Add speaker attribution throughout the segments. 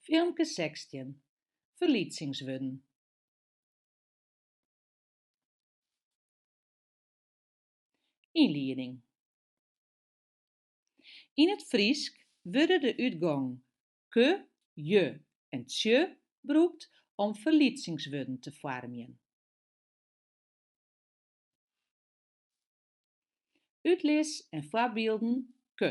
Speaker 1: Filmke sechstjin, Ferlytsingswurden. Ynlieding. Yn it Frysk wurde de útgongen ke, je en tsje brûkt om ferlytsingswurden te foarmjen. Utlis en foarbylden, ke,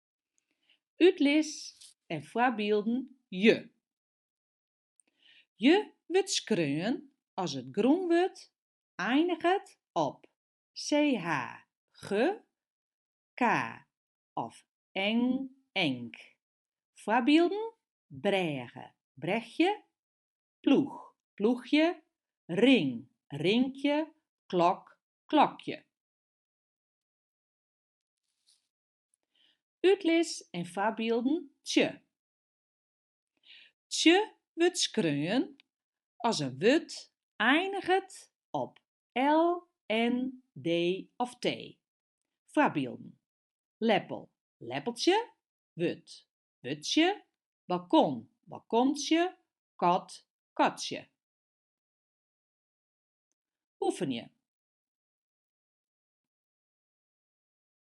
Speaker 1: Utlis en foarbylden je. Je wurdt skreaun as it grûnwurd einiget op ch, g, k of ng, nk. Foarbylden, brêge, brechje, ploech, ploechje, ring, rinkje, klok, klokje. Utlis en foarbylden tsje. Tsje wurdt skreaun as in wurd einiget op l, n, d of t. Foarbylden, leppel, leppeltsje, wurd, wurdsje, balkon, balkontsje, kat, katsje. Oefenje.